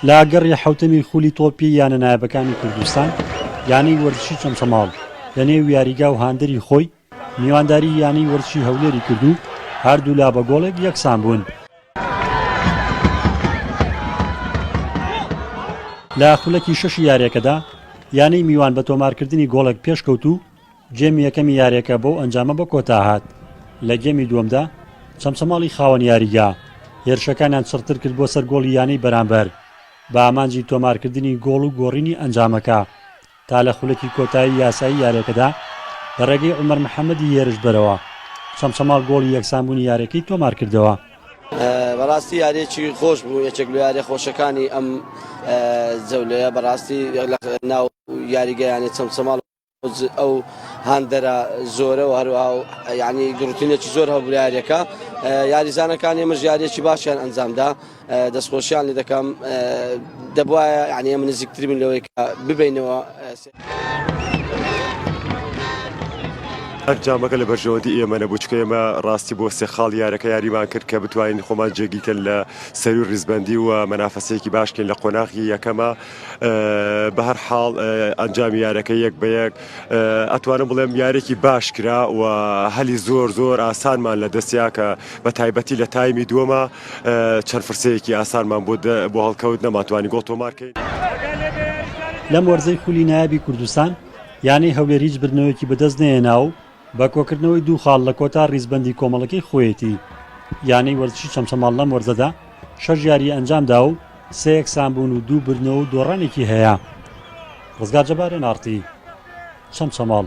لە گەڕی حوتەمی خولی تۆپی یانە نایبەکانی کوردستان یانەی وەرزشی چەمچەماڵ لە نێو یاریگا و هاندەری خۆی میوانداری یانەی وەرزشی هەولێری کردو هەردوولا بە گۆڵێک یەکسان بوون لە خولەکی شەشی یاریەکەدا یانەی میوان بە تۆمارکردنی گۆڵێک پێشکەوت و گێمی یەکەمی یاریەکە بەو ئەنجامە بە کۆتا هات، لە گێمی دووەمدا چەمچەماڵی خاوەن یاریگا هێرشەکانیان چڕتر کرد بۆ سەر گۆڵی یانەی بەرامبەر بە ئامانجی تۆمارکردنی گۆڵ و گۆڕینی ئەنجامەکە تا لە خولەکی کۆتایی یاسایی یاریەکەدا لە ڕێگەی عومەر محەممەدی هێرشبەرەوە چەمچەماڵ گۆڵی یەکسانبوونی یاریەکەی تۆمارکردەوە. بەڕاستی یاریەکی خۆش بوو یەکێک لە یاریە خۆشەکانی ئەم جەولەیە بەڕاستی ناو یاریگەیانی چەمچەماڵ ئەو هاندەرە زۆرە و هەروها ینی گرروتینێکی زۆر هەبراارەکە یاریزانەکان ئێمەش یاریێکی باشیان ئەنجامدا دەستخۆشیان لێ دەکەم دەبواە ینی ئەمە نزیکتر بن لەوەی ببینەوە. ئەنجامەکە لە بەرژەوەندی ئێمە نەبوو چکە ئێمە ڕاستی بۆ سێ خاڵ یارەکە یاریمان کرد کە بتوانین خۆمان جێگیکەن لە سەروی ڕیزبندی و مەنافەسەیەکی باشکەین لە قۆناغی یەکەمە بەهەرحاڵ ئەنجامی یارەکە یەک بە یەک ئەتوانم بڵێم یارێکی باش کرا و هەلی زۆر زۆر ئاسانمان لە دەستیا کە بە تایبەتی لە تایمی دووەمە چەند فرسەیەکی ئاسانمان بۆ بۆ هەڵکەوت نەماتوانی گۆڵ تۆمارکەین. لەم وەرزەی خولی نایابی کوردستان یانەی هەولێر هیچ بردنەوەیەکی بەدەست نەهێنا و بە کۆکردنەوەی دوو خاڵ لە کۆتا ریزبەندی کۆمەڵەکەی خۆیەتی، یانەی وەرزشی چەمچەماڵ لەم وەرزەدا شەش یاریی ئەنجامدا و سێ یەکسانبوون و دوو بردنەوە و دۆڕانێکی هەیە. رزگار جەبار، ئێن ئاڕ تی، چەمچەماڵ.